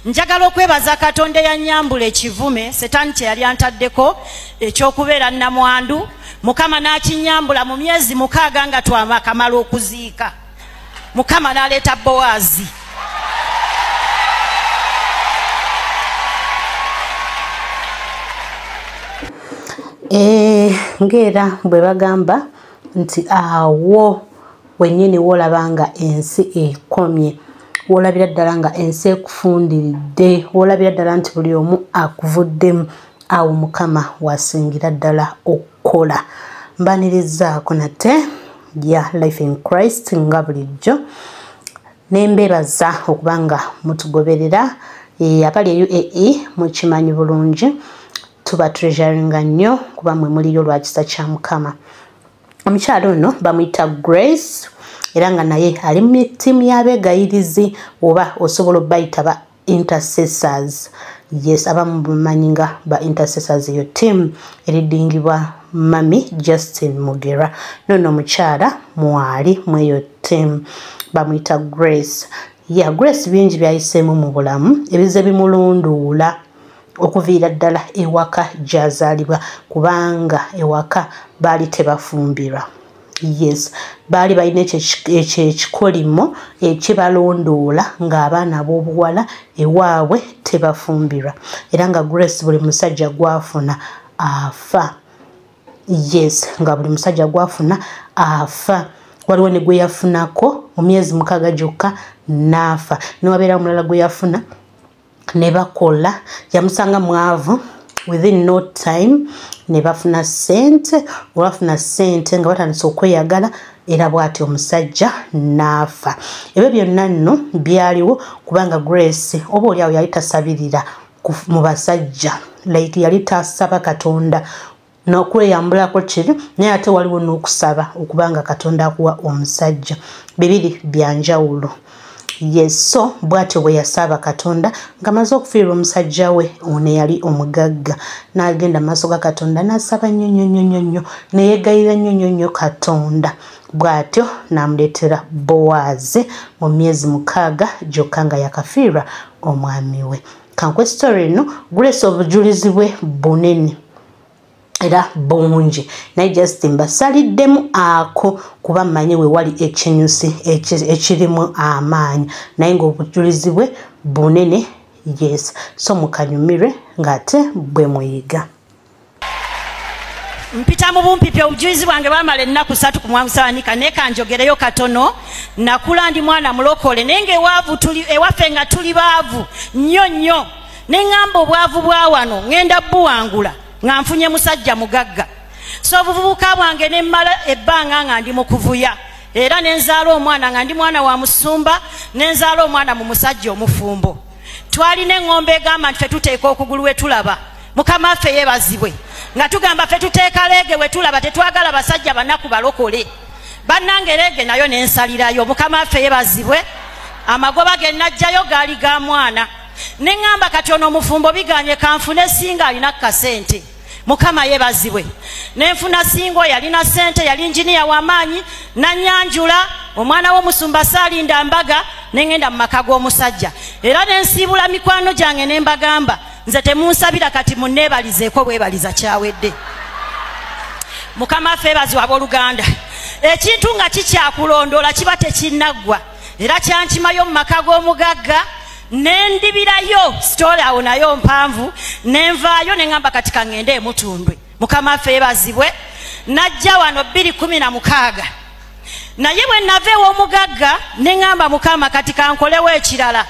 njagala okwebaza katonda eyanyambula ekivume setaani kye yali antaddeko ekyokubeera namwandu mukama n'akinyambula mu myezi mukaaga nga twamakamala okuziika mukama n'aleeta bowaazi eh, ngaera bwe bagamba nti awo wenyini wolaba nga ensi ekomye wolabira ddala nga ensi ekufundiridde wolabira ddala nti buli omu akuvuddemu awo mukama wasingira ddala okukola mbanirizaako nate ya life in christ nga bulijjo nembebaza okuba nga mutugoberera eh, abali e uae mukimanyi bulungi tuba treasuringa nnyo kuba mwe muliyo lwakisa kya mukama omukyalo ono bamuyita grace era nga naye ali mu tiimu y'abeegayirizi oba osobola obayita ba intercessors yes abamu bamanyi nga ba intercessors eyo tiimu eridingibwa mami justin mugera nono omukyala mwali mweyo tiimu bamuyita grace ya yeah, grace bingi byayiseemu mu bulamu ebize bimulunduula okuviira ddala ewaka gyazaalibwa kubanga ewaka baali tebafumbirwa yes baali balina ekyo ekikolimo ekibalondoola ng'abaana ab'obuwala ewaabwe tebafumbirwa era nga grace buli musajja gwafuna afa yes nga buli musajja gwafuna afa waliwo ne gwe yafunako mu myezi mukaaga gyokka n'afa newabeera omulala gwe yafuna ne bakola yamusanga mwavu within no time ne bafuna sente olwafuna sente nga batandise okweyagala era bwati omusajja naafa ebyo byonna nno byaliwo kubanga grace oba oli awo yali tasabirira mu basajja like yali tasaba katonda n'okweyambulako kibi naye ate waliwo n'okusaba okuba nga katonda akuwa omusajja bibiri bya njawulo yeso bw'atyo bwe yasaba katonda nga maze okufiirwa omusajja we ono eyali omugagga n'agenda mu maaso ga katonda n'asaba nnyo nnyo nnyo nnyo nnyo neyegayira nnyo nnyo nnyo katonda bw'atyo n'amuleetera bowaazi mu myezi mukaaga gyokka nga yakafiirwa omwami we kankwe story eno gulesa obujulizi bwe bunene era bungi naye just mbasaliddemu ako kuba mmanyi we wali ekinyusi ekirimu amaanyi naye ng'obujulizi bwe bunene yes so mukanyumirwe ng'ate bwe muyiga mpita mu bumpipi obujulizi bwange bamala ennaku satu ku mwamusawanika naye kanjogereyo katono nakula ndi mwana mulokole naye nga ewaavu ewaffe nga tuli baavu nnyo nnyo neŋŋamba obwavu bwa wano ŋŋenda buwangula nga nfunye musajja mugagga so obuvubuka bwange ne mmala ebbanga nga ndi mu kuvuya era ne nzaala omwana nga ndi mwana wa musumba ne nzaala omwana mu musajja omufumbo twalina eŋŋombo egamba nti fe tuteeka okugulu we tulaba mukama waffe yebazibwe nga tugamba fe tuteeka leege we tulaba tetwagala basajja banaku balokole bannange leege nayo nensalirayo mukama waffe yebazibwe amagoba ge najjayo gaali ga mwana ne ŋŋamba kati ono omufumbo biganye kanfune singa alina ku kasente mukama yebazibwe nenfuna singo yalina sente yali njiniya wamaanyi nanyanjula omwana womusumba salinda mbaga nengenda mu maka g'omusajja era nensiibula mikwano gyange nembagamba nze temunsabira kati munneebalizeeko bwebaliza kyawedde mukama ffe ebaziwa aboluganda ekintu nga kikyakulondoola kiba tekinaggwa era kyankimayo mu maka g'omugagga nendibirayo sitole awo nayo mpanvu nenvaayo neŋamba kati kaŋŋende emutundwe mukama affe yebazibwe najja wano bbiri kumi na mukaaga naye bwe nava ew'omugagga neŋamba mukama kati kankolewo ekirala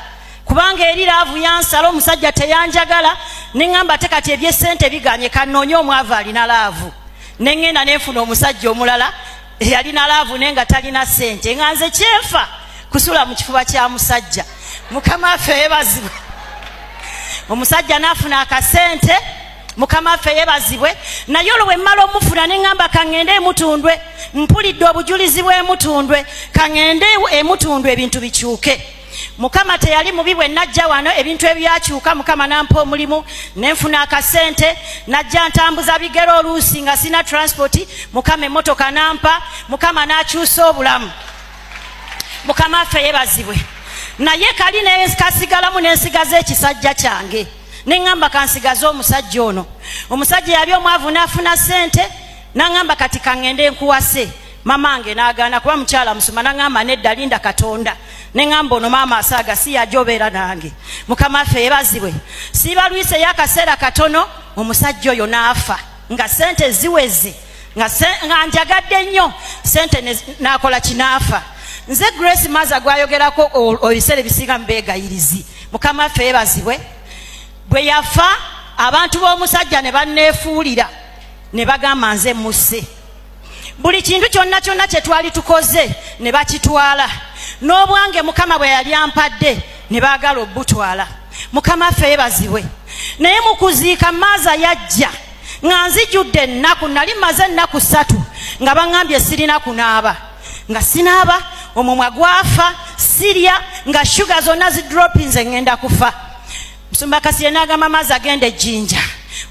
kubanga eri laavu yansala omusajja teyanjagala neŋamba te kati ebyesente biganye kanoonye omwavu alina laavu neŋŋenda nenfuna omusajja omulala eyalina laavu naye nga talina sente nga nze kyenfa kusula mu kifuba kya musajja mukama waffe yebazibwe omusajja naafuna akasente mukama waffe yebazibwe naye olwo bwemmala omufuna ne ŋŋamba kaŋŋende emutundwe mpulidde obujulizi bw'emutundwe kaŋŋende emutundwe ebintu bikyuke mukama teyali mubi bwe najja wano ebintu ebyakyuka mukama nampa omulimu nenfuna akasente najja ntambuza bigere oluusi nga sina transpoti mukama emotoka nampa mukama nakyusa obulamu mukama affe yebazibwe naye kali nekasigalamu nensigaza ekisajja kyange neŋamba kansigaze omusajja ono omusajja yali omwavu nafuna sente naŋamba kati kaŋende nkuwase mamange nagaana kuba mukyala musuma naŋamba nedda linda katonda neŋamba ono maama asaaga si yaja obeera nange mukama affe yebazibwe sibalwiseyo akaseera katono omusajja oyo naafa nga sente ziweze nga njagadde nnyo sente nakola kinaafa nze grace maza gwayogerako ebiseera ebisinga mubeegayirizi mukama affe yebazibwe bwe yafa abantu b'omusajja ne banneefuulira ne bagamba nze musse buli kintu kyonna kyonna kye twali tukoze ne bakitwala n'obwange mukama bwe yali ampadde ne baagala obutwala mukama affe yebazibwe naye mu kuziika maaza yajja nga nzijudde ennaku nali maze ennaku ssatu nga baŋambye sirina kunaaba nga sinaaba omumwa gwafa sirya nga shuga zonna zidropinze ŋŋenda kufa musumba kasire n'agamba maazi agenda ejjinja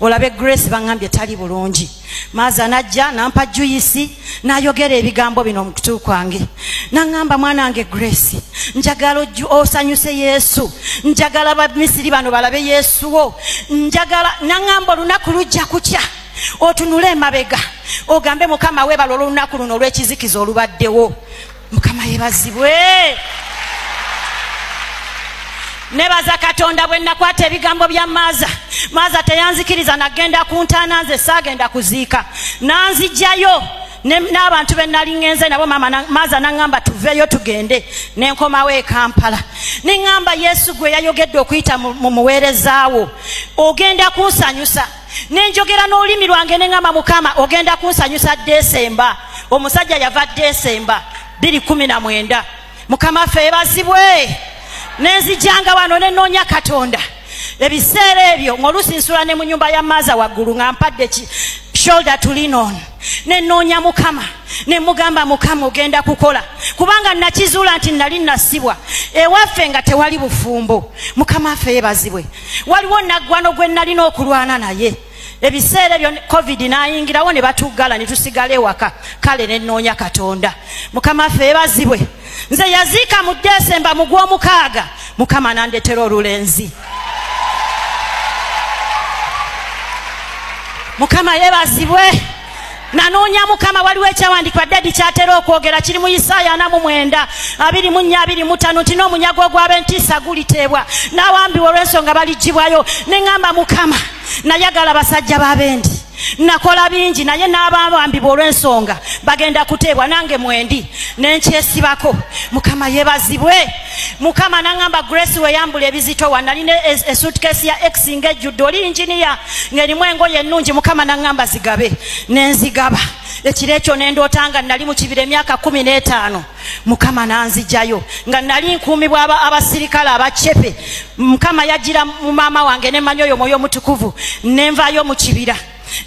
olabe grace baŋambye tali bulungi maaza najja nampa juyisi nayogera ebigambo bino omukutu kwange naŋamba mwana wange grace njagala osanyuse yesu njagala bamisiri bano balabe yesu wo njagala naŋamba olunaku lujja kutya otunule emabega ogambe mukama webala olwolunaku luno olwekizikiza olubaddewo mukama yebazibwe nebaza katonda bwe nakwata ebigambo bya maaza maaza teyanzikiriza nagenda ku ntaana nze saagenda kuziika nanzijjayo n'abantu be nali ŋenze nabo maaza naŋŋamba tuveeyo tugende ne nkomawo e kampala ne ŋŋamba yesu gwe yayogedde okuyita mu muweerezaawo ogenda kunsanyusa nenjogera n'olulimi lwange ne ŋama mukama ogenda kunsanyusa desemba omusajja yava desemba biri kumi na mwenda mukama ffe ebazibwe nenzijanga wano nenoonya katonda ebiseera ebyo ng'oluusi nsula ne mu nyumba ya maaza waggulu nga mpadde shoulder to lean on nenoonya mukama nemugamba mukama ogenda kukola kubanga nakizuula nti nali nasibwa ewaffe nga tewali bufumbo mukama affe yebazibwe waliwo naggwano gwe nalina okulwana naye ebiseera ebyo covid nayingirawo ne batuggala ne tusigala ewaka kale ne nnoonya katonda mukama affe ebazibwe nze yaziika mu desemba mu gw'omukaaga mukama nandetera olulenzi mukama yebazibwe nanoonya mukama waliwo ekyawandiikibwa dadi kyatera okwogera kiri mu isaaya ana mu mwenda abiri mu nnya abiri mutano nti n'omunyago ogw'abentiisa guliteebwa n'awambiwa olw'ensonga baligibwayo ne ŋŋamba mukama nayagala basajja b'abendi nakola bingi naye n'abawambibwa olw'ensonga bagenda kuteebwa nange mwendi ne nkyesibako mukama yebazibwe mukama nangamba grace weyambula ebizito wanalina esutkesi ya ex nga ejjudde oli inginiya ngaerimu engoye ennungi mukama nangamba zigabe nenzigaba ekiro ekyo nendoota nga nali mukibira emyaka kumi n'etaano mukama nanzijayo nga nali nkuumibwa abasirikale abacepe mukama yajira mu maama wange nemanya oyo mwoyo omutukuvu nenvayo mukibira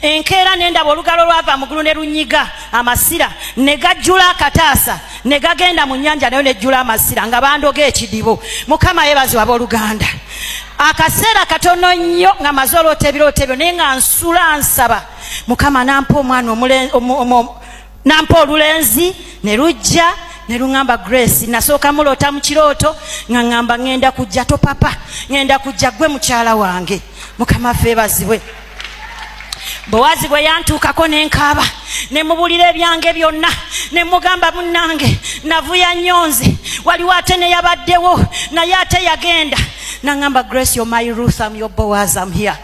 enkeera ne ndaba olugalo lwava mu gulu ne lunyiga amasira ne gajjula akataasa ne gagenda mu nnyanja nayo nejjula amasira nga bandoga ekidibo mukama yebaziwa abooluganda akaseera katono nnyo nga maze oloota ebirooto ebyo naye nga nsula nsaba mukama nampa omwana nampa olulenzi ne lujja ne luŋamba grace nasooka muloota mu kirooto nga ŋamba ŋenda kujja to papa ŋenda kujja gwe mukyala wange mukama feebazibwe bowazi bwe yantuukako ne nkaaba ne mubulira ebyange byonna ne mugamba munnange navuya nnyo nze waliwo ate ne yabaddewo naye ate yagenda naŋamba grace yo my ruth am yo bowazi am here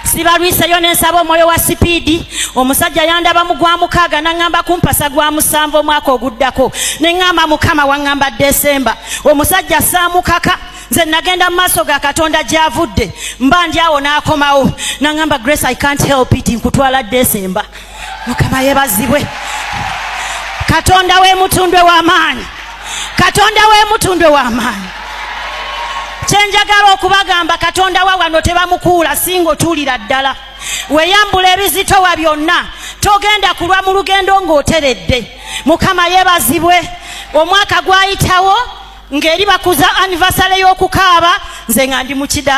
sibalwiseyo nensaba omwoyo wa sipiidi omusajja yandaba mu gwa mukaaga naŋŋamba kumpasa gwa musanvu omwaka oguddako neŋŋamba mukama waŋŋamba desemba omusajja saamukaka nze nagenda mu maaso ga katonda gyavudde mba ndi awo n'akomawo naŋŋamba grace i can't help it nkutwala desemba mukama yebazibwe katonda wemutundwe wamaanyi katonda wemutundwe wamaanyi kyenjagala okubagamba katonda wa wano tebamukuula singa otuulira ddala weyambula ebizitowa byonna togenda kulwa mu lugendo ng'oteredde mukama yebazibwe omwaka gwayitawo ng'eri bakuza anivasale y'okukaaba nze nga ndi mu kidala